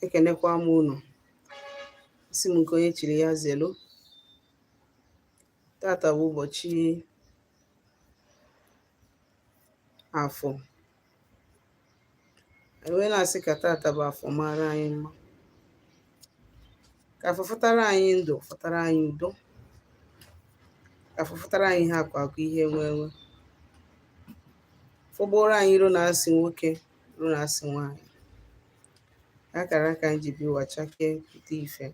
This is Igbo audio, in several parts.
ekenekwa m unu asị m nke onye chiri ya zelu tata bụ ụbọchị afọ m wee na-asị ka tata bụ afọ mara anyị mma ka afọ fọtara anyị ndụ fọtara anyị udo ka afọ fọtara anyị ihe akụ akụ ihe enwe enwe fọgbuoro anyị iro na asị nwoke iro na asị nwaanyị akara aka anyị ji bịa ụwa chakee pụta ife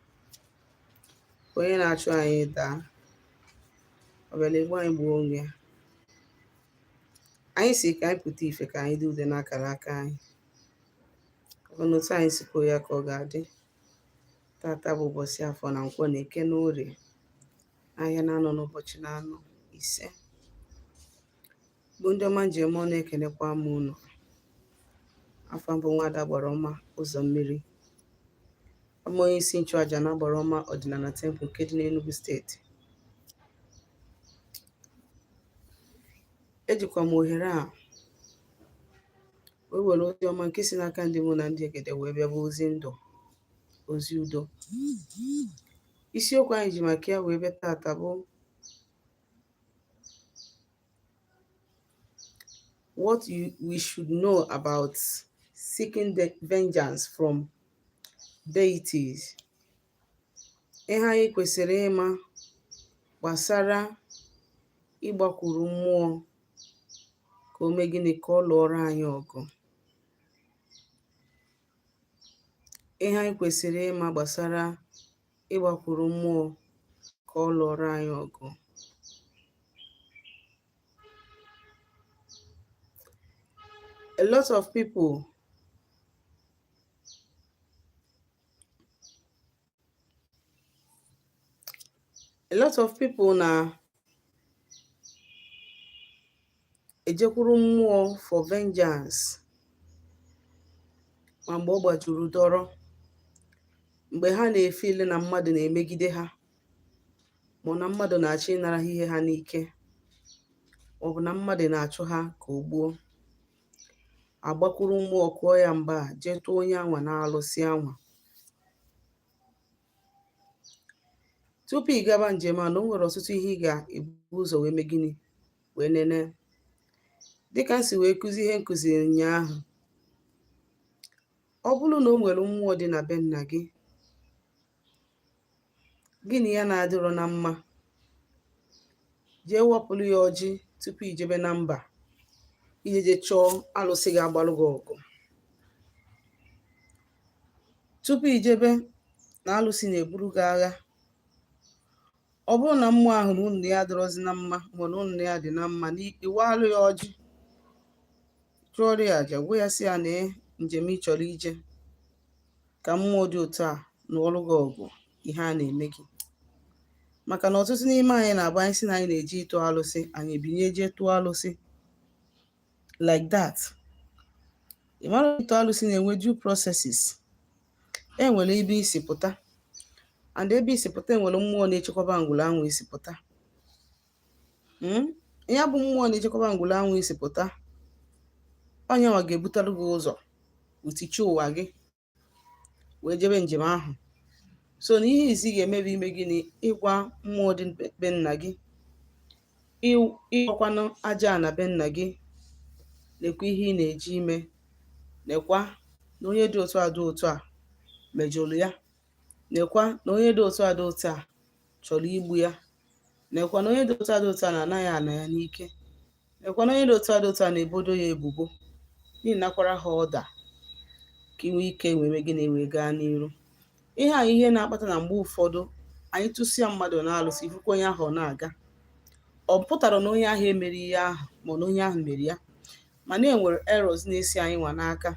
onye na-achụ anyị daa ọbịala egbu anyị gbuo onwe ya anyị sị ka anyị pụta ife ka anyị dị ude n'akara aka anyị ọ bụ otu anyị si kwuo ya ka ọ ga-adị tata bụ ụbọchị afọ na nkwọ na eke na orie ahịa na anọ n'ụbọchị na anọ isee bụ ndị ọma m ji eme ọnụ ekenekwa m unu afa m bụ nwada agbara ọma ụzọ mmiri abụ m onye isi nchụaja na agbara ọma ọdịnala tempụl nke dị n'Enugu steeti ejikwa m ohere a wee were ozi ọma nke si n'aka ndị mmụọ na ndị egede wee bịa bụ ozi ndụ ozi udo isiokwu anyị ji maka ya wee bịa tata bụ what we should know about seeking the vengeance from deities. Ihe anyị kwesịrị ịma gbasara ịgbakwuru mmụọ ka o mee gịnị ka ọ lụọrọ anyị ọgụ. Ihe anyị kwesịrị ịma gbasara ịgbakwuru mmụọ ka ọ lụọrọ anyị ọgụ a lot of people a lot of people na ejekwuru mmụọ for vengeance ma mgbe ọ gbajuru dọrọ mgbe ha na-efeel na mmadụ na-emegide ha ma na mmadụ na-achọ ịnara ha ihe ha n'ike ma ọ bụ na mmadụ na-achụ ha ka o gbuo agbakwuru mmụọ kụọ ya mgba jee tụọ onye anwa na alụsị anwa tupu ị gaba njem a na o nwere ọtụtụ ihe ị ga-ebu ụzọ wee mee gịnị wee nene dịka m si wee kụzi ihe nkụzi ụnyaahụ ọ bụrụ na o nwere mmụọ dị na be nna gị gị na ya na-adịrọ na mma jee wapụrụ ya ọjị tupu i jebe na mba ije je chọọ alụsị ga-agbalụ gị ọgụ tupu ijebe na alụsị na-eburu gị agha ọ bụrụ na mmụọ ahụ na unu na ya adịrọzi na mma ma na unu na ya dị na mma ị waalụ ya ọjị chụọrọ ya aja gwa ya sị ya na njem ị chọrọ ije ka mmụọ dị otu a nụọrụ gị ọgụ ihe a na-eme gị maka na ọtụtụ n'ime anyị na-abụ anyị sị na anyị na-eje ịtụ alụsị anyị ebinye jee tụọ alụsị like that ị mara ịtụ alụsị na-enwe due processes e nwere ebe i si pụta and ebe i si pụta enwere mmụọ na-echekwaba ngwuru anwụ i si pụta hmm? ya bụ mmụọ na-echekwaba ngwuru anwụ i si pụta onye nwa ga-ebutere gị ụzọ bute chi ụwa gị wee jebe njem ahụ so na ihe izizi ị ga-eme bụ ime gịnị ịgwa mmụọ dị be nna gị ịgwakwanụ aja ana be nna gị nekwa ihe ị na-eje ime nekwa na onye dị otu a dị otu a mejọrọ ya nekwa na onye dị otu a dị otu a chọrọ igbu ya nekwa na onye dị otu a dị otu a na-ana ya ana ya n'ike Nekwa na onye dị otu a dị otu a na-ebodo ya ebubo na ị nakwara ha ọda ka i nwee ike wee mee gịnị wee gaa n'iru ihe a ihe na-akpata na mgbe ụfọdụ anyị tụsịa mmadụ na alụsị ị fụkwa onye ahụ ọ na-aga ọ pụtarọ na onye ahụ emerọ ihe ahụ ma na onye ahụ mere ya mana e nwere errors na-esi anyị nwa n'aka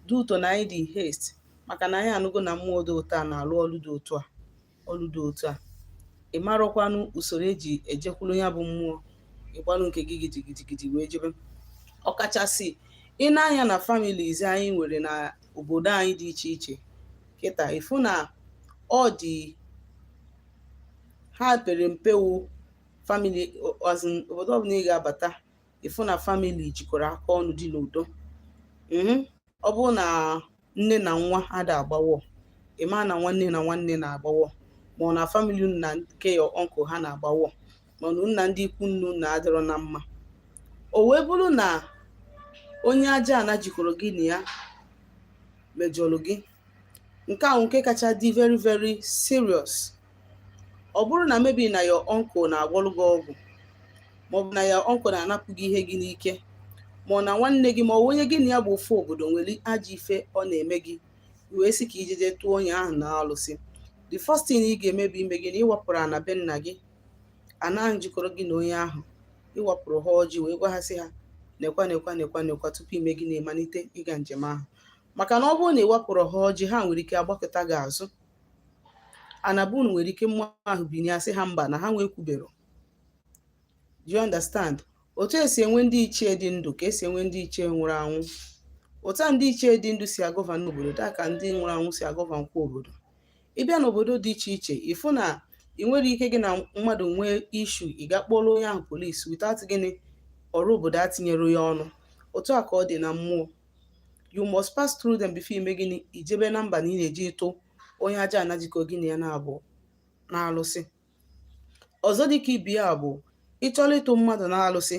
due to na anyị dị haste maka na anyị anụgo na mmụọ dị otu a na-alụ ọlụ dị otu a ọlụ dị otu a ị marọkwanụ usoro eji ejekwuru ya bụ mmụọ ị gbalụ nke gị gidigidigidi wee jebe ọkachasị ị nee anya na families anyị nwere na obodo anyị dị iche iche kịta ị fụ na ọ dị ha pere mpe wụ family obodo ọbụla ị ga-abata ị fụ na family jikọrọ aka ọnụ dị n'udo mhm. ọ bụrụ na nne na nwa ada agbawọ ị ma na nwanne na nwanne na-agbawọ ma ọ na family unu na nke your uncle ha na-agbawọ mana unu na ndị ikwu nne unu adịrọ na mma o wee bụrụ na onye aja ana jikọrọ gị na ya mejọrọ gị nke a wụ nke kacha dị very very serious ọ bụrụ na maybe na your uncle na-agwọrụ gị ọgwụ maọbụ na your uncle na-anapụ gị ihe gị n'ike ma ọ na nwanne gị ma ọ onye gị na ya bụ ofu obodo nwere ajọ ife ọ na-eme gị wee sị ka ijeje tụọ onye ahụ na alụsị the first thing ị ga-eme bụ ime gịnị ịwapụrụ ana be nna gị ana ahụ jikọrọ gị na onye ahụ ịwapụrụ ha ọjị wee gwa ha sị ha nekwa nekwa nekwa nekwa tupu ị mee gịnị ị malite ịga njem ahụ maka na ọ bụrụ na ị wapụrụ ha ọjị ha nwere ike agbakọta gị azụ anabunu nwere ike mmụọ ahụ binye a sị ha mba na ha nwa ekwubero do you understand otu e si enwe ndị ichie dị ndụ ka e si enwe ndị ichie nwụrụ anwụ otu a ndị ichie dị ndụ si agovern obodo taa ka ndị nwụrụ anwụ si agovernkwa obodo ị bịa n'obodo dị iche iche ị fụ na ị nwere ike gị na mmadụ nwee issue ị ga kpọrọ onye ahụ polisi without gịnị ọra obodo atinyere ya ọnụ otu a ka ọ dị na mmụọ you must pass through them before i mee gịnị i jebe na mba na ị na-eje ịtụ onye aja ana jikọ gị na ya naabọ n'alụsị ọzọ dịka ibe ya bụ ị chọrọ ịtụ mmadụ n'alụsị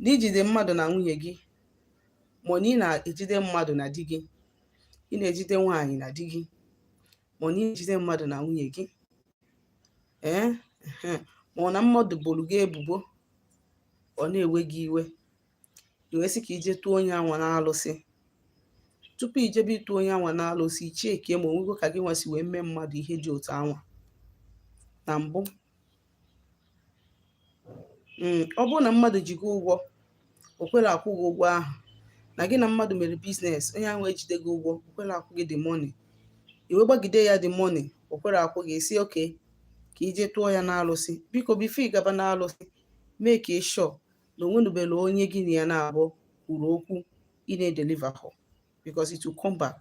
na i jide mmadụ na nwunye gị ma na ị na-ejide mmadụ na di gị ị na-ejide nwaanyị na di gị ma na i jide mmadụ na nwunye gị ee ma ọ na mmadụ boro gị ebubo ọ na-ewe gị iwe i wee sị ka i je tụọ onye anwa n'alụsị tupu i jebe ịtụ onye anwa n'alụsị i cheekwa ma o nwego ka gị nwa si wee mee mmadụ ihe dị otu anwa na mbụ hmm, ọ bụrụ na mmadụ ji gị ụgwọ o kwere akwụ gị ụgwọ ahụ na gị na mmadụ mere business onye ahụ ejide gị ụgwọ o kwere akwụ gị the money i wee gbagide ya the money o kwere akwụ gị sị okay ka i je tụọ ya n'alụsị biko before ị gaba n'alụsị make sure na o nwenubere onye gị na ya naabọ kwuru okwu ị na-edeliver hụ because it will come back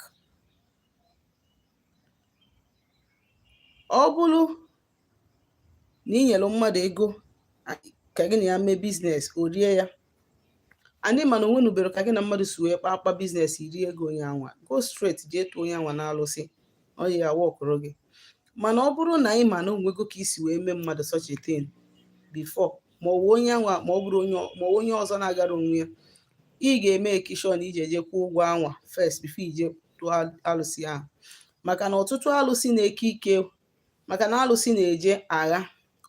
ọ bụrụ na ị nyere mmadụ ego ka gị na ya mee business o rie ya and ị ma na o nwenubere ka gị na mmadụ si wee kpa akpa business i rie ego onye anwa go straight jee tụọ onye anwa n'alụsị ọ ya workụrụ gị mana ọ bụrụ na ị ma na o nwego ka i si wee mee mmadụ such a thing before ma ọ bụ onye anwa ma ọ bụrụ onye ma onye ọzọ na-agara onwe ya ị ga-emake sure na i je je kwụọ ụgwọ anwa first before i je tụọ alụsị ahụ maka na ọtụtụ alụsị na-eke ike maka na alụsị na-eje agha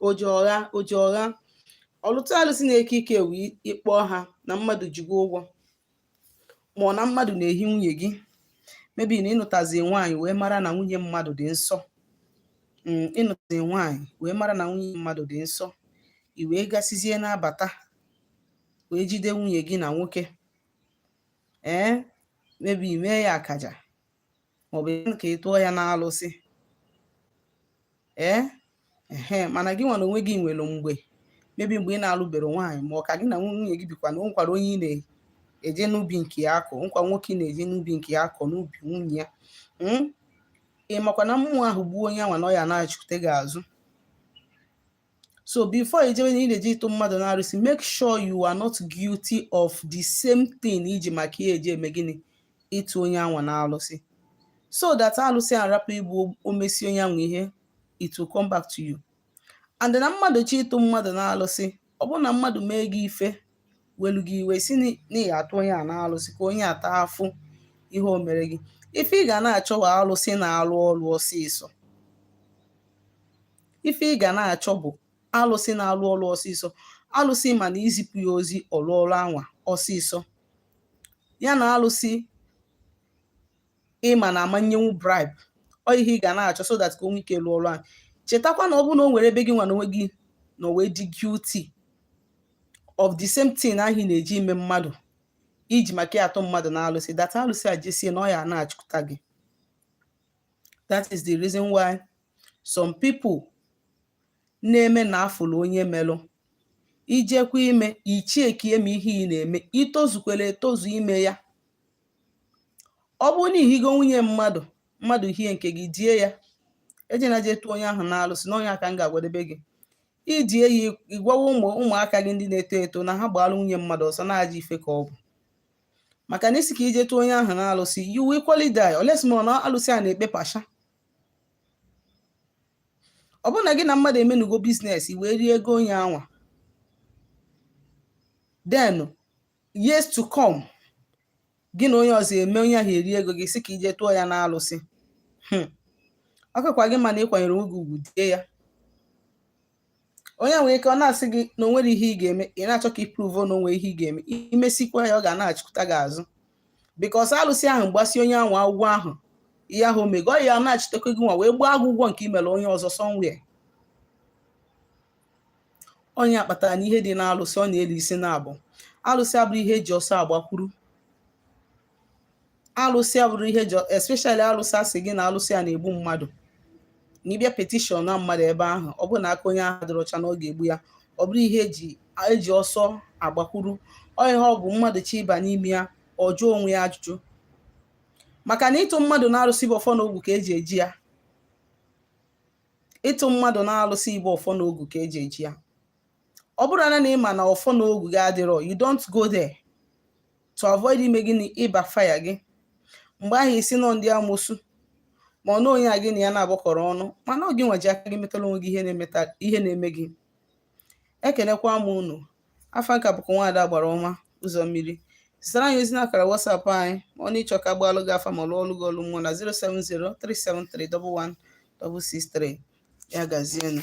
oje ọgha oje ọgha ọtụtụ alụsị na-eke ike wee ị kpọ ha na mmadụ ji gị ụgwọ ma ọ na mmadụ na-ehi nwunye gị maybe na ị nụtazi nwaanyị wee mara na nwunye mmadụ dị nsọ mm, ị nụtazi nwaanyị wee mara na nwunye mmadụ dị nsọ i wee gasizie na-abata wee jide nwunye gị na nwoke ee maybe mee ya akaja maọbụ ka ị tụọ ya n'alụsị ee ehe mana gị nwa na onwe gị nwere mgbe maybe mgbe ị na-alụbere nwaanyị ma ọ ka gị na nwunye gị bikwa na o nwekwara onye ị na-eje n'ubi nke ya akọ o nwekwara nwoke ị na-eje n'ubi nke ya akọ n'ubi nwunye ya hmm? ị makwa na mmụọ ahụ gbuo onye anwa na ọ ya-anachikute gị azụ So before ijebe na ị na-eje ịtụ mmadụ na alụsị, make sure you are not guilty of the same thing iji maka ya eje eme gịnị ịtụ onye anwa na alụsị. So that alụsị arapụ igbu o mesịa onye anwa ihe, it will come back to you. And na mmadụ chọọ ịtụ mmadụ na alụsị, ọ bụrụ na mmadụ mee gị ife welu gị iwe sị na ị ya-atụ onye a na alụsị ka onye a taa afụfụ ihe o mere gị ife ị ga na-achọ bụ alụsị na-alụ ọlụ ọsịsọ ife ị ga na-achọ bụ alụsị na-alụ ọlụ ọsịsọ alụsị ị ma na i zipụ ya ozi ọ lụọ ọlụ anwa ọsịsọ ya na alụsị ị ma na a ma-enyenwu bribe ọ ihe ị ga na-achọ so that ka o nwee ike lụọ ọrụ ahụ chetakwa na ọ bụrụ na o nwere ebe gị nwa na onwe gị nọ wee dị guilty of the same thing ahụ ị na-eji ime mmadụ iji maka ya atụ mmadụ na alụsị that alụsị a jesie na ọ ya-anachita gị that is the reason why some people na-eme na afụlụ onye melụ i jekwa ime i checkie ma ihe ị na-eme i tozukwere etozu ime ya ọ bụrụ na i higo nwunye mmadụ mmadụ hie nke gị die ya ejena je tụọ onye ahụ n'alụsị na ọ nya ka m ga-agwadebe gị i die ya ị gwawa ụmụaka gị ndị na-eto eto na ha gbaara nwunye mmadụ ọsọ na ajọ ife ka ọ bụ maka na ị sị ka i jee tụọ onye ahụ n'alụsị you will equally die unless ma na alụsị a na-ekpe partial ọ bụrụ na gị na mmadụ emenugo business i wee rie ego onye anwa then years to come gị na onye ọzọ emee onye ahụ erie ego gị ị sị ka i jee tụọ ya n'alụsị hmm. ọ kakwa gị mma na ị kwanyere onwe gị ugwu die ya onye nwere ike ọ na-asị gị na o nwerọ ihe ị ga-eme ị na-achọ ka ị prove na o nwere ihe ị ga-eme i mesikwa ya ọ ga-anachikuta gị azụ because alụsị ahụ gbasịa onye ahụ ụgwọ ahụ ihe ahụ o mego ọ ya-anachitekwa gị nwa wee gbaa gị ụgwọ nke i mere onye ọzọ somewhere ọ nya kpatara na ihe dị n'alụsị ọ na-elu isi naabọ alụsị abụrọ ihe eji ọsọ agbakwuru alụsị abụrọ ihe eji especially alụsị a sị gị na alụsị a na-egbu mmadụ na ị bịa petition na mmadụ ebe ahụ ọ bụrụ na aka onye ahụ adịrọ ọcha na ọ ga-egbu ya ọ bụrọ ihe eji ọsọ agbakwuru ọ ihe ọ bụ mmadụ chọọ ịba n'ime ya ọ jụọ onwe ya ajụjụ maka na ịtụ mmadụ n'alụsị bụ ọfọ na ogu ka eji eje ya ịtụ mmadụ na alụsị bụ ọfọ na ogu ka eji eje ya ọ bụrụ na ị ma na ọfọ na ogu gị adịrọ you don't go there to avoid ime gịnị ịbackfire gị mgbe ahụ ị sị na ọ ndị amosu ma ọ na onye a gị na ya na-agbakọrọ ọnụ mana ọ gị nwa ji aka gị metara onwe gị ihe na-eme gị ekenekwa m unu afa m ka bụkwa nwaada agbara ọma ụzọ mmiri zitara anyị ozi n'akara WhatsApp anyị ma ọ na ị chọ ka a gbaalụ gị afa ma lụọlụ gị ọlụ mmụọ na 07037311663 ya gazienụ